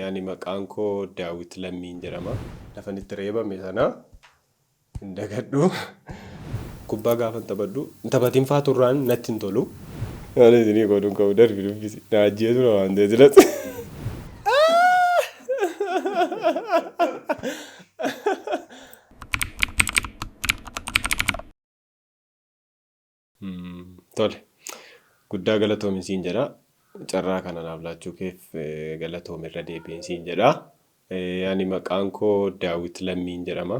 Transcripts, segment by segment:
Ani maqaan koo Daawit Lammiin jedhama. Lafan itti reebame sana hin dagadhu. Kubbaa gaafan taphadhu hin taphatin faa turraan natti hin tolu. Ani isinii godhu hin qabu darbi dubbisi. Na ajjeesu na waan ta'e silas. Tole. Guddaa galatoomi siin jedha. Carraa kana naaf laachuu keef eh, galatoomi irra deebiin siin jedha. Eh, Ani maqaan koo Daawit Lammiin jedhama.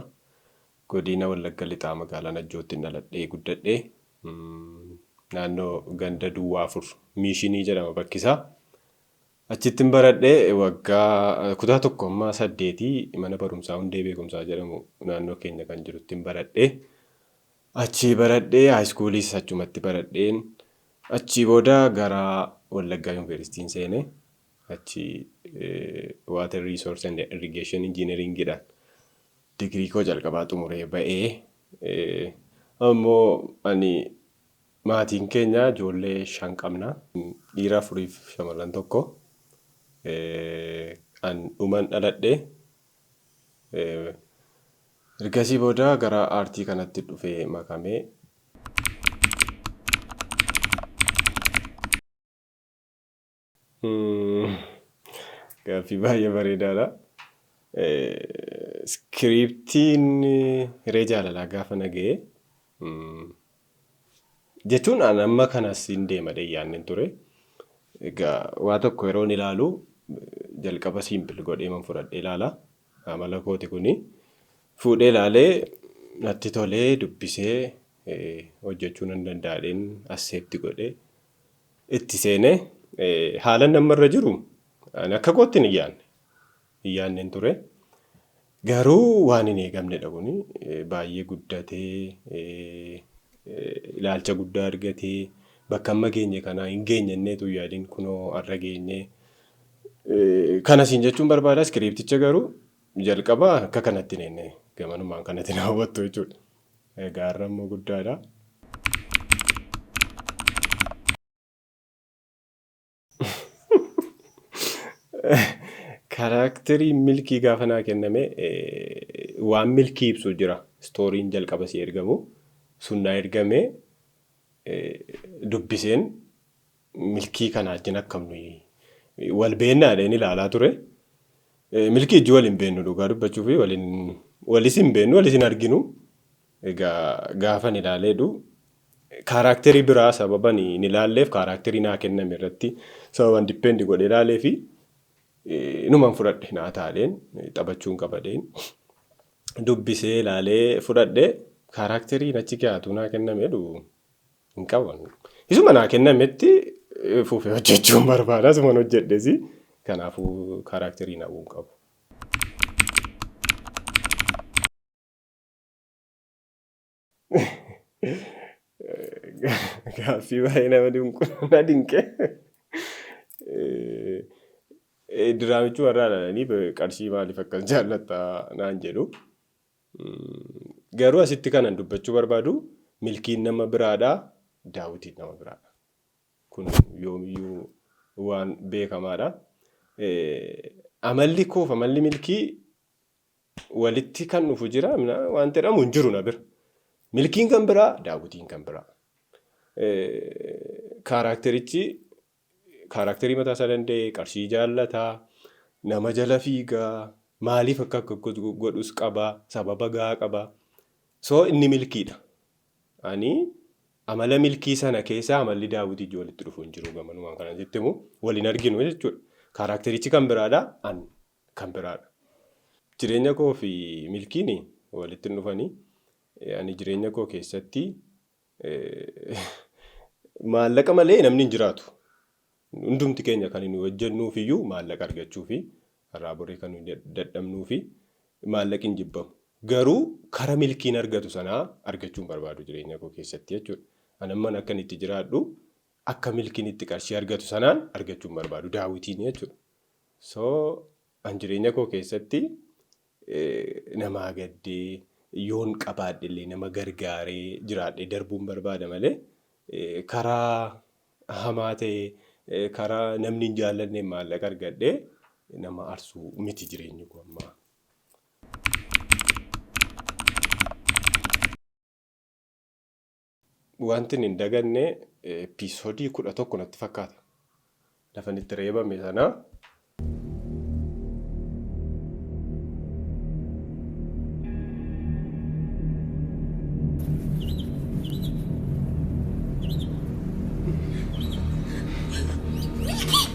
Godina Wallagga Lixaa magaalaa Najjootti dhaladhee guddadhe. Mm, Naannoo ganda Duwwaa Afur Miishinii jedhama bakki isaa. Achittin baradhe waggaa kutaa tokko amma saddeetii mana barumsaa hundee beekumsaa jedhamu naannoo keenya kan jiruttin baradhe. Achii baradhee high school's achumatti baradheen achii booda gara Wallaggaa University'n seene achi water resource and irrigation engineering dhaan degree koo jalqabaa xumuree ba'ee ammoo ani maatiin keenya ijoollee shan qabna dhiira afuriif shamarran tokko an dhuman dhaladhe Ergasii booda gara aartii kanatti dhufee makame. Gaaffii baay'ee bareedaadha. Iskiriiptiin hiree jaalalaa gaafa na ga'e Jechuun an amma kanas hin deema jedhee yaaddeen ture. Egaa waa tokko yeroon ilaalu jalqaba simple godhee man fudhadhee ilaala. Amala kooti kuni. Fuudhee ilaalee natti tolee dubbisee hojjechuu nan danda'a jedheen accept godhee itti seenee haalan amma irra jiru ani akka kootti hin yaadne. hin yaannen ture. Garuu waan hin eegamnedha kuni. Baay'ee guddatee, ilaalcha guddaa argatee, bakka amma geenye kanaa hin geenye innee utuu hin yaadin kunoo har'a geenye. Kana siin jechuun barbaada iskiriipticha garuu jalqaba akka kanatti hin eegne gamanumaan kanatti na hawwattu jechuudha. Egaa har'a immoo guddaadha. Karaakterii milkii gaafa naa kenname waan milkii ibsu jira. Istooriin jalqaba si ergamu sun naa ergame dubbiseen milkii kana ajjin akkam nuyi wal beennaa dheen ilaalaa ture. Milkii ijji wal hin beennu dhugaa dubbachuuf waliin walis hin beennu walis hin arginu. Egaa gaafan ilaaleedhu kaaraakterii biraa sababan hin ilaalleef kaaraakterii naa kenname irratti sababan depend godhe ilaaleefi numan fudhadhe naa taaleen taphachuun qabadeen dubbisee ilaalee fudhadhe kaaraakterii nachi kiyaatuu naa kennameedhu hin qaban. Isuma naa kennametti fufee hojjechuun barbaada isuman hojjedhesi kanaafuu kaaraakterii hin hawwuun qabu. Gaaffii baay'ee nama dinqu na dinqe. Diraamichi warraa dhalanii qarshii maaliif akkas jaallatta naan jedhu. Garuu asitti kanan dubbachuu barbaadu milkiin nama biraadha daawwitiin nama biraadha. Kun yoomiyyuu waan beekamaadha. Amalli koof amalli milkii walitti kan dhufu jira mina wanti jedhamu hin jiru na bira. Milkiin kan biraa daawwitiin kan biraa. Kaaraakterichi kaaraakterii mataa isaa danda'e qarshii jaallataa nama jala fiigaa maaliif akka akka godhus qabaa sababa gahaa qabaa. Soo inni milkiidha. Ani amala milkii sana keessaa amalli daawwitii ijoo walitti dhufu hin jiru gamanumaan kanan sitti himu waliin arginu jechuudha. Kaaraakterichi kan biraadha an kan biraa dha. Jireenya koo fi milkiin walitti hin dhufani. Ani jireenya koo keessatti maallaqa malee namni hin jiraatu. Hundumti keenya kan nuyi hojjennuuf iyyuu maallaqa argachuufi. Har'aa borii kan nuyi dadhabnuufi. Maallaqi hin jibbamu. Garuu kara milkiin argatu sanaa argachuu hin barbaadu jireenya koo keessatti jechuudha. Ani amman akkan itti jiraadhu akka milkiin itti qarshii argatu sanaan argachuu hin barbaadu. Daawitiin jechuudha. So an jireenya koo keessatti namaa gaddee yoon qabaadhe illee nama gargaaree jiraadhee darbuun barbaada malee karaa hamaa ta'e karaa namni hin jaallanneen maallaqa argadhee nama arsuu miti jireenyi koo ammaa. Wantin hin daganne episoodii kudha tokko natti fakkaata. Lafan itti reebame sana.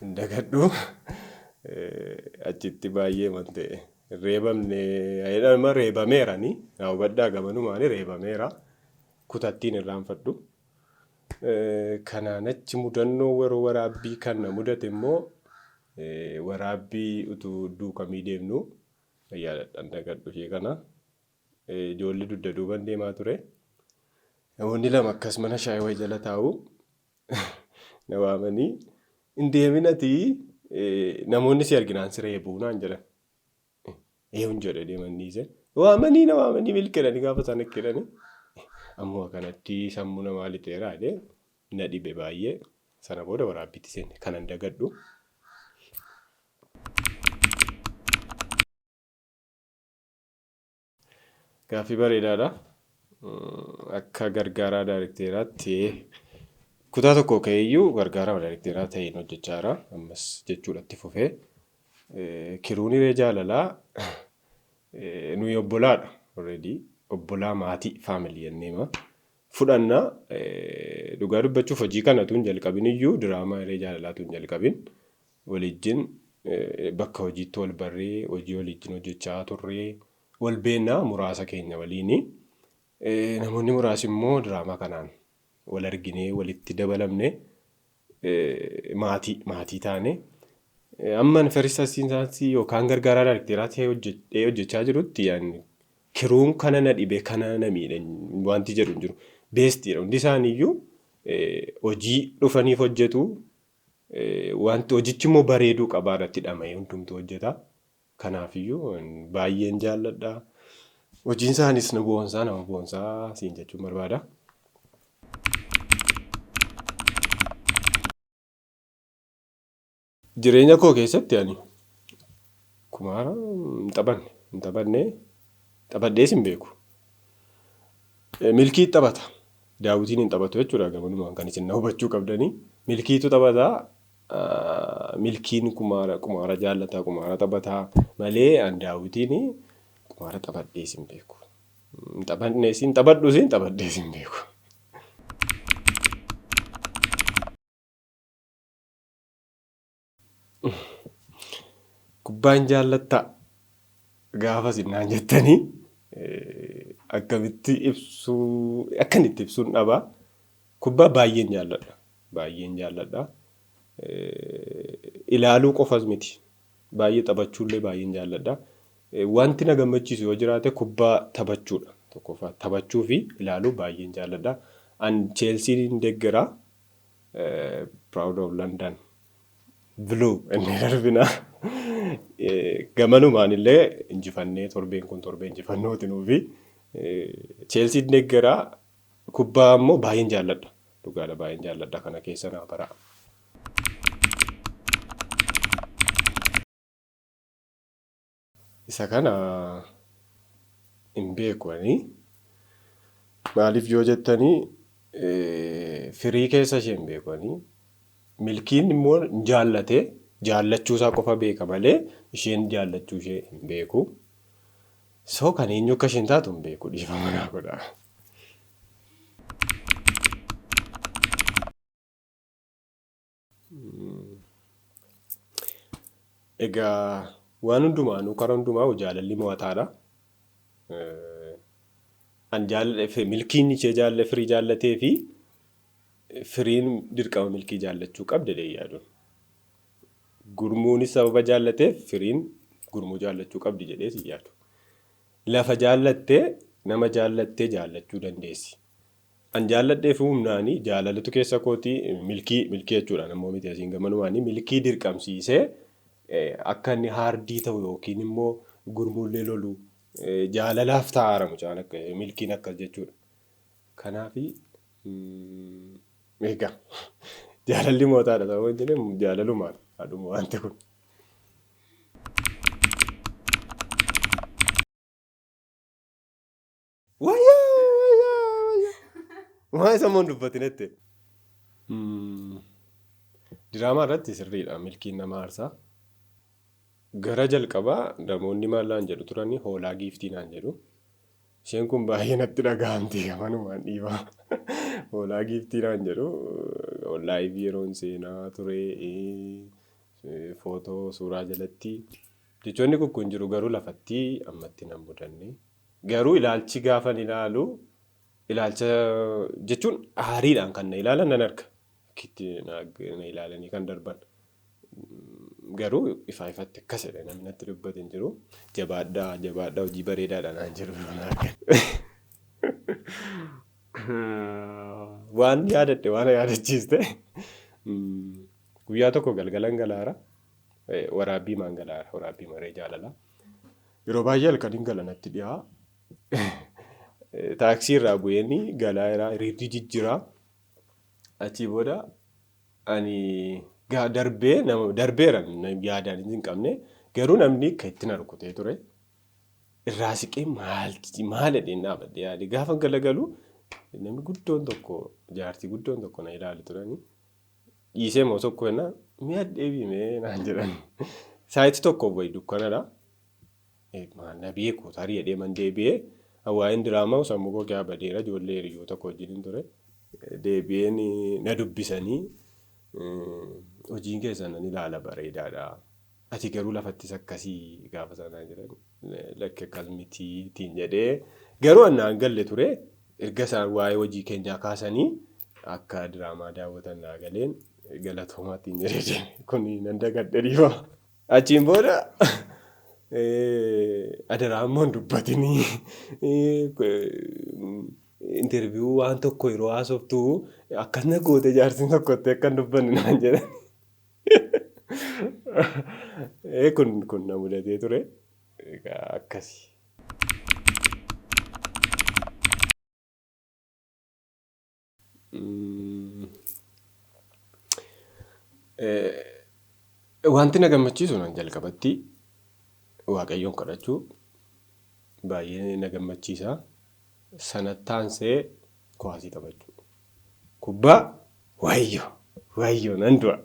hin dagadhu achitti baay'ee wante reebamne jedhama reebameera ni naa hubadhaa gamanumaani reebameera kutattiin irraanfadhu. Eh, Kanaan achi mudannoo waroo waraabbii kan na mudate immoo eh, waraabbii utuu duukamii deemnu yaadadhaan dagadhu ishee kana Eh, ijoollee dugda duuban deemaa ture. Namoonni lama akkas mana shaayii wayii jala taa'u. na waamanii hin deemin ati namoonni si arginaan si reebuu naan jedhan. Eewun jedhe deeman dhiise. Waamanii na waamanii milkeedhani gaafa isaan akkeedhani. Ammoo kanatti sammuu namaa lixeeraa jedhee na dhibe baay'ee. Sana booda waraabbiitti seenne kanan dagadhu. Gaaffii bareedaadha. Akka gargaaraa daarikteeraatti kutaa tokko ka'eeyyuu gargaarama daarikteeraa ta'een hojjechaa jira. Ammas jechuudha itti fufee. Kiruun hiree jaalalaa nuyi obbolaadha. Already obbolaa maatii faamilii jenneema. Fudhanna dhugaa dubbachuuf hojii kanatu hin jalqabin iyyuu diraamaa hiree jaalalaa tu hin jalqabin. walijjin bakka hojiitti wal barree hojii walijjin hojjechaa turree wal beekna muraasa keenya waliini. Namoonni muraasi immoo diraamaa kanaan wal arginee walitti dabalamne maatii maatii taane. Amman first assistant yookaan gargaaraa daarekteeraa ta'ee hojjedhee hojjechaa jirutti yaani kiruun kana na dhibe kana na miidhe wanti jedhu hin jiru. Beestiidha hundi isaaniiyyuu hojii dhufaniif hojjetu Wanti hojichimmoo bareeduu qabaa irratti dhama'ee hundumtuu hojjeta. Kanaafiyyuu baay'een jaalladha. Hojiin isaanis na boonsaa nama boonsaa siin jechuun barbaada. Jireenya koo keessatti ani kumaara hin taphanne hin taphanne taphadhees hin beeku. Milkii taphata. Daawitiin hin taphatu jechuudha gamanumaan kan isin na hubachuu qabdani. Milkiitu taphata. Milkiin kumaara qumaara jaallata qumaara taphata malee an daawwitiin qumaara taphadhees hin beeku. Hin taphadhees hin taphadhus hin taphadhees hin beeku. Kubbaa hin jaallattaa? Gaafa isin naan jettanii akkamitti ibsuu akkan itti ibsuun dhabaa. Kubbaa baay'een jaalladha. Baay'een jaalladha. Ilaaluu qofas miti. Baay'ee taphachuullee baay'een jaalladha. Wanti na gammachiisu yoo jiraate kubbaa taphachuudha. Tokkoffaa taphachuu fi ilaaluu baay'een jaalladha. An Cheelsiin deeggara. proud of London blue inni darbina gamanumaan illee injifannee torbeen kun torbee injifannooti nuufi Cheelsiin deeggaraa kubbaa immoo baay'een jaalladha dhugaadha baay'een jaalladha kana keessa naa baraa. Isa kana hin beeku ani. Maaliif yoo jettanii firii keessa ishee hin beeku ani. Milkiin immoo hin jaallate jaallachuu isaa qofa beeka malee isheen jaallachuu ishee hin beeku. So kan eenyu akka isheen taatu hin beeku dhiifama naa godha. Egaa waan hundumaanuu karaa hundumaa jaalalli mo'ataadha. An jaalladhe milkiin ishee jaalladhe firii jaallatee fi firiin dirqama milkii jaallachuu qabda jedhee yaaduun. Gurmuunis sababa jaallateef firiin gurmuu jaallachuu qabdi jedhee si yaadu. Lafa jaallattee nama jaallattee jaallachuu dandeessi. An jaalladheefuu humnaani jaalalatu keessa kooti milkii milkii jechuudhaan ammoo miti asiin gamanumaani milkii dirqamsiisee akka inni haardii ta'u yookiin immoo gurmuullee lolu jaalalaaf taa'aara mucaan akka milkiin akkas jechuudha. Kanaafi egaa jaalalli mootaadha ta'uu hin jedhe jaalalumaan haadhuma wanti kun. Wayyaa wayyaa wayyaa. Maa isa immoo hin dubbatinetti. Diraamaa irratti sirriidha milkiin nama aarsaa. Gara jalqabaa namoonni maallaan jedhu turani hoolaa giiftii naan jedhu. Isheen kun baay'ee natti dhaga'amti amanumaan dhiibaa. Hoolaa giiftii naan jedhu onlaayif yeroon seenaa ture footoo suuraa jalatti. Jechoonni kun jiru garuu lafattii ammatti nan mudanne. Garuu ilaalchi gaafan ilaalu ilaalcha jechuun aariidhaan kan na ilaalan nan arga. Akkitti na ilaalanii kan darban. Garuu ifaa ifatti akkas jedhe namni natti dubbate hin jiru. Jabaadhaa jabaadhaa hojii bareedaadha naan jedhu yeroo na argan. Waan yaadadhe waan yaadachiiste guyyaa tokko galgalan galaara waraabbii maan galaara waraabbii maree jaalalaa. Yeroo baay'ee halkaniin gala natti dhiyaa. Taaksii irraa bu'een galaa irraa hiriirri jijjiraa. Achii booda ani darbee nama darbeera yaadaan hin qabne garuu namni akka itti na rukutee ture. Irraa siqee maalti maal jedheen dhaabadhe yaade gaafa galagalu namni guddoon tokko jaartii guddoon tokko na ilaali turani. dhiisee moo tokko jenna mi'a deebii mee naan jedhan saayitii tokko wayi dukkanadha. Na beeku tarii jedhee man deebi'ee waa'een diraamaa sammuu koo keessaa badeera ijoollee hiriyoota koo wajjin ture. Deebi'een na dubbisanii hojiin keessan nan ilaala bareedaadha. Ati garuu lafattis akkasii gaafa sana naan jedhan lakki akkas mitii ittiin jedhee garuu an naan galle ture erga isaan waa'ee hojii keenyaa kaasanii akka diraamaa daawwatan naa galeen galatoomaa ittiin jedhee deeme kun nan dagadhe dhiifama. Achiin booda adaraa immoo hin dubbatinii interviyuu waan tokko yeroo haasoftu akkas na goote jaartiin tokkotti akka hin dubbanne naan jedhan. Ee kun kun na mudatee ture. Egaa akkasi. Mm. Eh, Wanti na gammachiisu nan jalqabatti waaqayyoon kadhachuu baay'ee na gammachiisa. Sana taansee kuwaasii taphachuu. Kubbaa waayyo waayyo nan du'a.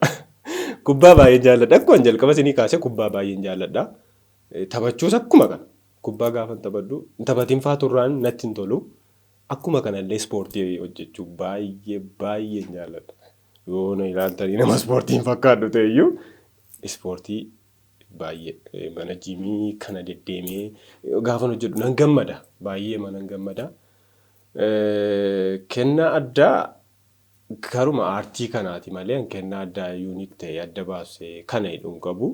Kubbaa baay'een jaalladha. Akkuma jalqaba isinii kaase kubbaa baay'een jaalladha. Taphachuus akkuma kana. Kubbaa gaafan taphadhu hin taphatiin faa turraan natti hin tolu. Akkuma kanallee ispoortii hojjechuu baay'ee baay'een jaalladha. Yoo na ilaaltanii nama ispoortii hin fakkaadhu ta'eyyuu ispoortii baay'ee mana jiimii kana deddeemee gaafan hojjedhu nan gammada. Baay'ee manan gammada. Kennaa addaa karuma aartii kanaati malee an kennaa addaa unique ta'e adda baase kana jedhu hin qabu.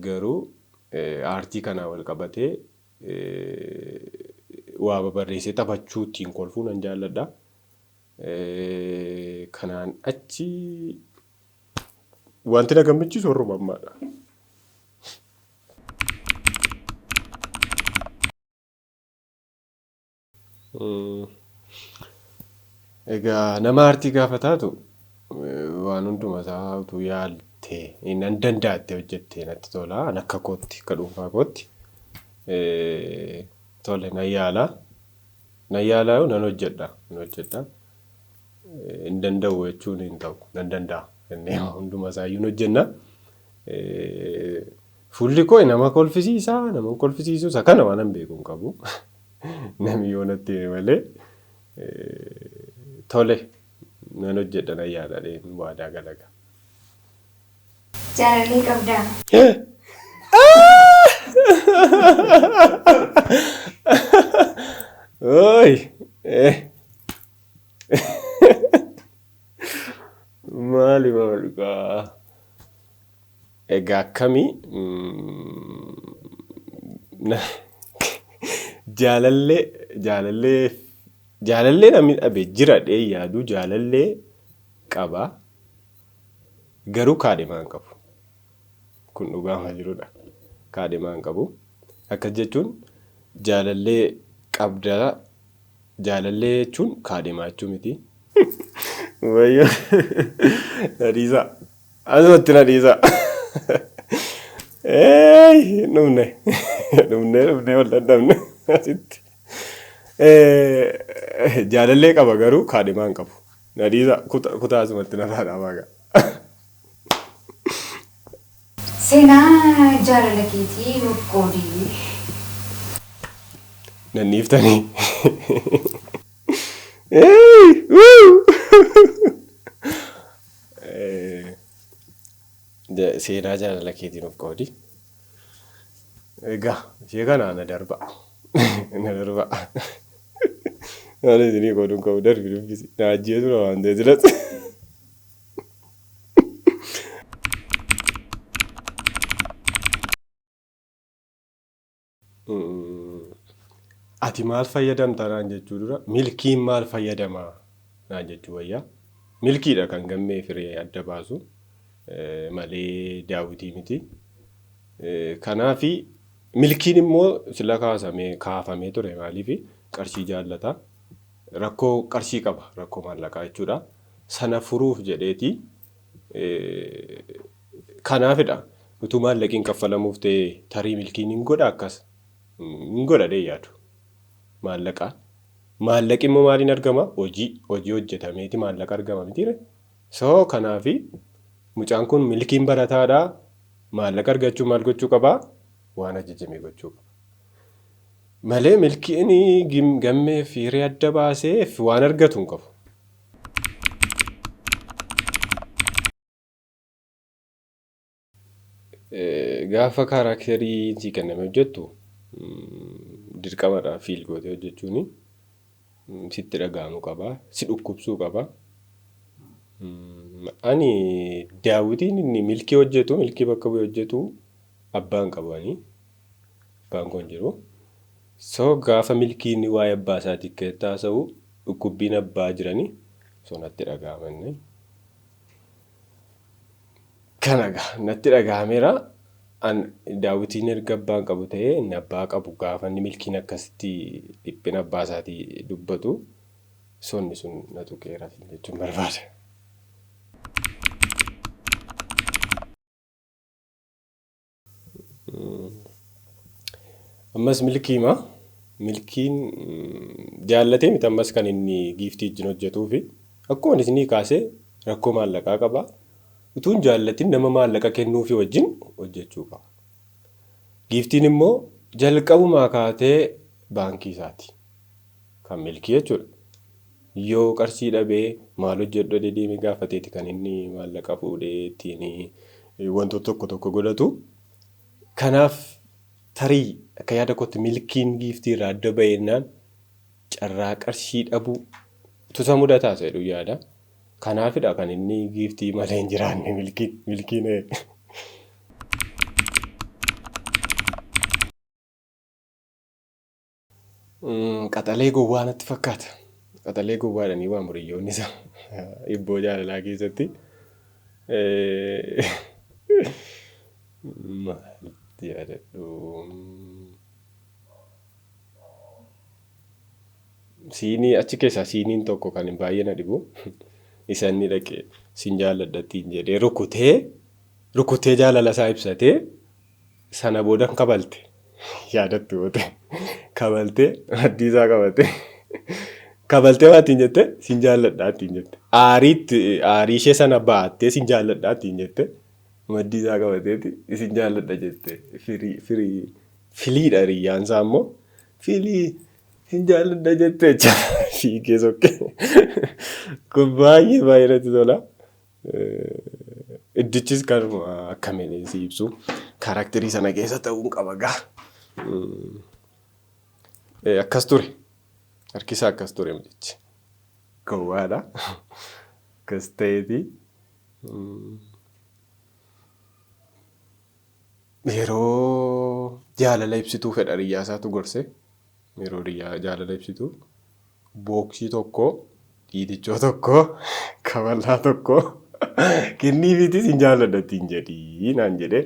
Garuu aartii kanaa wal qabatee waa babarreessee taphachuu ittiin kolfuu nan jaalladha. Kanaan achi wanti na gammachiisu warruma ammaadha. Egaa nama aartii gaafa taatu waan hunduma isaa utuu yaalte nan danda'atte hojjette natti tola. An akka kootti akka dhuunfaa kootti tole nan yaala. Nan yaala yoo nan hojjedha nan hojjedha. Hin danda'u jechuun hin ta'u nan danda'a jennee hunduma isaayyuu hin hojjenna. Fuulli koo nama kolfisiisa, nama hin kolfisiisu, isa kana waan an beeku hin qabu. Namni yoo natti hime malee tole nan hojjedha nan yaadadheen waadaa galaga. Jaalallee qabdaa? Ooyi! Maali maali kaa? Egaa akkami na jaalallee jaalallee jaalallee namni dhabe jira dhee yaadu jaalallee qaba garuu kaadhimaa hin qabu kun dhugaama jirudha kaadhimaa hin qabu akkas jechuun jaalallee qabda jaalallee jechuun kaadhimaa jechuu miti. Wayyo Hadiisaa. Asumatti na dhiisa. Eeyi dhumne dhumne dhumne wal dadhabne asitti. Eh, Jaalallee qaba garuu kaadhimaa hin qabu. Na dhiisa kuta- kutaa asumatti na faana waaqa. Seenaa jaalala keetii nuuf qoodi. Nan dhiiftanii. Eeyi, wuu. Seenaa jaalala keetii nuuf qoodi. Egaa ishee kana na darba. Na darba. Ani isinii qooduun qabu darbi dubbisi. Na ajjeesu na waan ta'e silatti. Ati maal fayyadamta naan jechuu dura milkiin maal fayyadama naan jechuu wayyaa. Milkiidha kan gammee firee adda baasu malee daawwitii miti. Kanaaf milkiin immoo sila kaasamee kaafamee ture maaliif qarshii jaallata. Rakkoo qarshii qaba rakkoo maallaqaa jechuudha. Sana furuuf jedheeti Kanaafidha utuu maallaqiin kaffalamuuf ta'e tarii milkiin hin godha akkas hin godha dee yaadu. Maallaqa maallaqi immoo maaliin argama hojii hojii hojjetameeti maallaqa argama mitiire. So kanaafi mucaan kun milkiin barataadha maallaqa argachuu maal gochuu qaba waan ajajame gochuu qaba. Malee milkiin gammee fi hiree adda baasee waan argatu hin qabu. Gaafa kaaraakterii sii kenname hojjettu dirqamadha fiil gootee hojjechuun sitti dhaga'amu qaba. Si dhukkubsuu qaba. Ani daawwitiin inni milkii hojjetu milkii bakka bu'ee hojjetu abbaan qabu ani. Abbaan koo hin jiru. So gaafa milkiin waa'ee abbaa isaatii keessatti haasa'u dhukkubbiin abbaa jirani so natti dhaga'ama inni. Kana gaa natti dhaga'ameera. An daawwitiin erga abbaan qabu ta'ee inni abbaa qabu gaafa inni milkiin akkasitti dhiphina abbaa isaatii dubbatu sonni sun na tuqeera siin jechuun barbaada. Ammas milkiima. Milkiin jaallatee miti ammas kan inni giiftii wajjin hojjetuufi. Akkuma isinii kaasee rakkoo maallaqaa qaba. Utuun jaallatin nama maallaqa kennuufi wajjin hojjechuu qaba. Giiftiin immoo jalqabumaa kaatee baankii isaati. kan milkii jechuudha. Yoo qarshii dhabee maal hojjedhu jedhee deemee gaafateeti kan inni maallaqa fuudhee ittiin wantoota tokko tokko godhatu. Kanaaf tarii akka yaada kootti milkiin giiftii irraa adda baheennaan carraa qarshii dhabuu utuu isa mudataa isa jedhu yaada. Kanaafidha kan inni giiftii malee hin jiraanne milkiin milkiin Qaxalee gowwaa natti fakkaata. Qaxalee gowwaadhanii waamu riyyoonni isaa ibboo jaalalaa keessatti. Maal yaadadhu? Siinii achi keessaa siiniin tokko kan baay'ee na dhibu isa inni dhaqee sin jaalladha ittiin jedhee rukutee rukutee jaalala isaa ibsatee Sana booda hin kabalte. Yaadattu yoo ta'e. Kabaltee maddii isaa qabate. Kabaltee waan ittiin jette sin jaalladhaa ittiin jette. Aariitti aarii ishee sana baattee sin jaalladhaa ittiin jette. Maddii isaa qabateeti isin jaalladha jette. Firii firii filiidha hiriyyaan isaa immoo filii sin jaalladha jette jecha fiigee sokkee. Kun baay'ee baay'ee natti tola. Iddichis kanuma akka meelee si ibsu kaaraakterii sana keessa ta'uun qaba gaa. Akkas ture. Harkisaa akkas ture mucichi. Gowwaadha. Akkas ta'eeti. Yeroo jaalala ibsituu fedha hiriyyaa isaatu gorse. Yeroo dhiyyaa jaalala ibsitu booksii tokko dhiitichoo tokko kaballaa tokko kenniifiitii sin jaalladha ittiin jedhii naan jedhe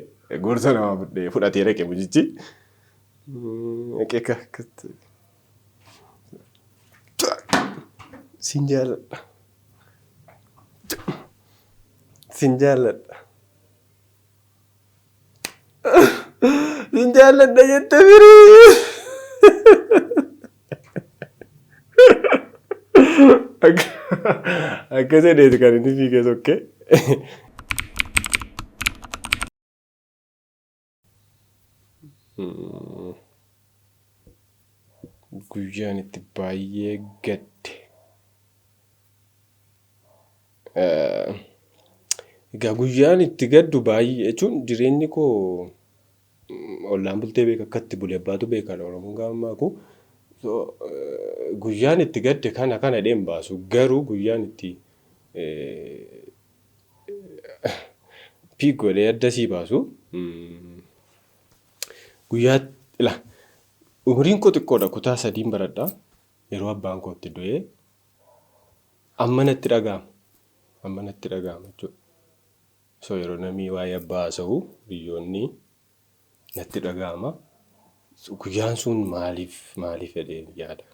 gorsa namaa fudhee fudhatee dhaqe mucichi. Eqeeka akkatti. Sin jaalladha. Sin jaalladha. Hin jaalladha jette firii. Akka jedheeti kan inni fiigee sokkee. Guyyaan itti baay'ee gadde. Egaa guyyaan itti gaddu baay'ee jechuun jireenyi koo ollaan bultee beeka akka itti bule abbaatu beeka Oromoon gaafa maaku. Guyyaan itti gadde kana kana jedhee hin baasu garuu guyyaan itti piik godhee adda sii baasu guyyaa ila umriin koo xiqqoodha kutaa sadiin baradha yeroo abbaan koo itti du'ee Amma natti dhaga'ama. Amma natti dhaga'ama jechuudha. So yeroo namni waa'ee abbaa haasa'u biyyoonni natti dhaga'ama. So guyyaan sun maaliif maaliif jedhee yaada.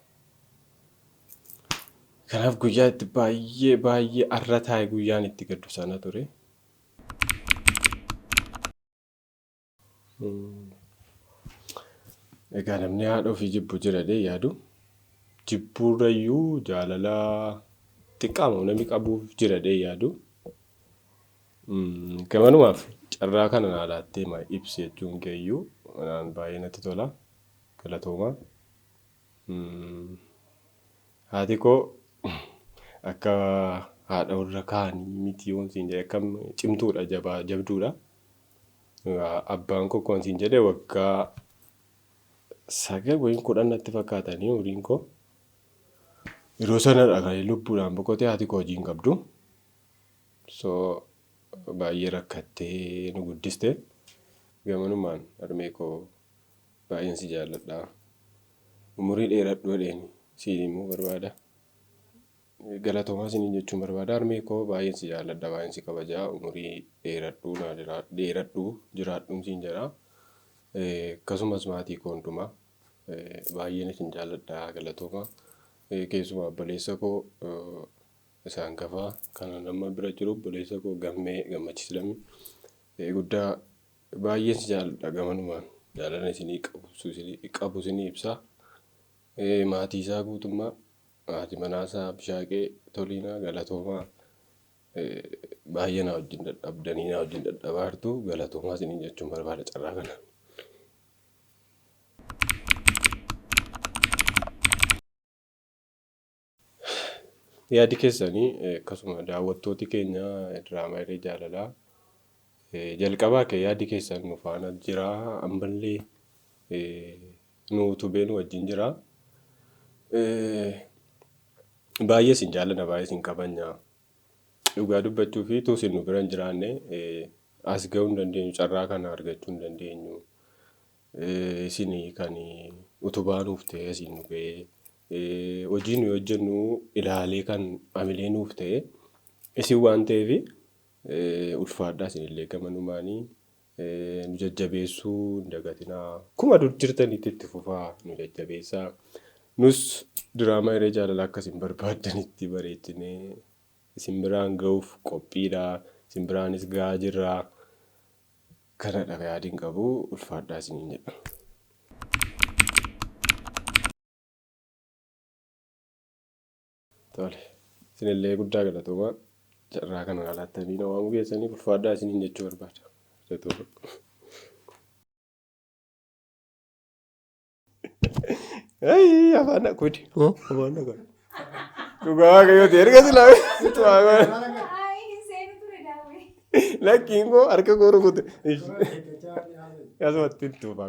Kanaaf guyyaa itti baay'ee baay'ee arra taa'e guyyaan itti gaddu sana ture. Egaa namni haadha ofii jibbu jira jedhee yaadu jibbuurrayyuu jaalala xiqqaama namni qabuuf jira jedhee yaadu gamanumaaf carraa kana naa laattee ma ibsi jechuun keeyyuu anaan baay'ee natti tola galatoomaa. Haati koo akka haadha warra kaanii miti yoon siin jedhe akkam cimtuudha jabaa jabduudha. Abbaan koo akkuma siin jedhe waggaa sagal wayii kudhan natti fakkaatanii umriin koo. Yeroo sanadha kan inni lubbuudhaan boqotee haati koo hojii hin qabdu. So baay'ee rakkattee nu guddiste. Gamanumaan harmee koo baay'een si jaalladha. Umurii dheeradhu jedheen siin himuu barbaada. Galatomaa isiniin jechuun barbaada harmee koo baay'een si jaalladha baay'een si kabaja umurii dheeradhuu naa jiraa dheeradhuu jiraadhuun siin jedha akkasumas maatii koo hundumaa baay'een isin jaalladha galatooma keessumaa obboleessa koo isa hangafaa kana nama bira jiru obboleessa koo gammee gammachiis lammii guddaa baay'een si jaalladha gamanumaan jaalala isinii qabu isinii ibsaa maatii isaa guutummaa Haati manaasaa Abishaagee Toliinaa galatoomaa baay'ee naa wajjin dadhabdanii naa wajjin dadhabaartu galatoomaa isiniin jechuun barbaada carraa kana. Yaadi keessanii akkasuma daawwattooti keenya diraamaa irree jaalalaa jalqabaa kee yaadi keessan nu faana jira ammallee nu utubee nu wajjin jira. Baay'ee isin jaallanna baay'ee isin kabajna. Dhugaa dubbachuuf utuu isin nu bira hin jiraanne as ga'uu hin dandeenyu carraa kana argachuu hin dandeenyu. Isin kan utubaa nuuf ta'e isin nu ga'ee hojii nuyi hojjennu ilaalee kan amilee nuuf ta'e isin waan ta'eef ulfaadhaa isinillee gamanumaanii nu jajjabeessuu hin dagatinaa. Akkuma dur jirtanitti itti fufaa nu jajjabeessaa. Nus diraamaa hiree jaalalaa akka isin barbaaddanitti bareechinee isin biraan ga'uuf qophiidha. Isin biraanis ga'aa jirra. Kanadha yaadiin qabu ulfaadhaa isiniin jedha. Tole. Isinillee guddaa galatoomaa. Carraa kana naa laattanii na waamuu keessaniif ulfaadhaa isiniin jechuu barbaada. Galatoomaa. Ayii afaan na kudi. Afaan na kudi. Dhugaa waaqayyooti erga silaa situ haa goone. Ayi hin seenu ture daawwee. Lakkiin koo harka koo rukute. Asumatti hin tuufaa.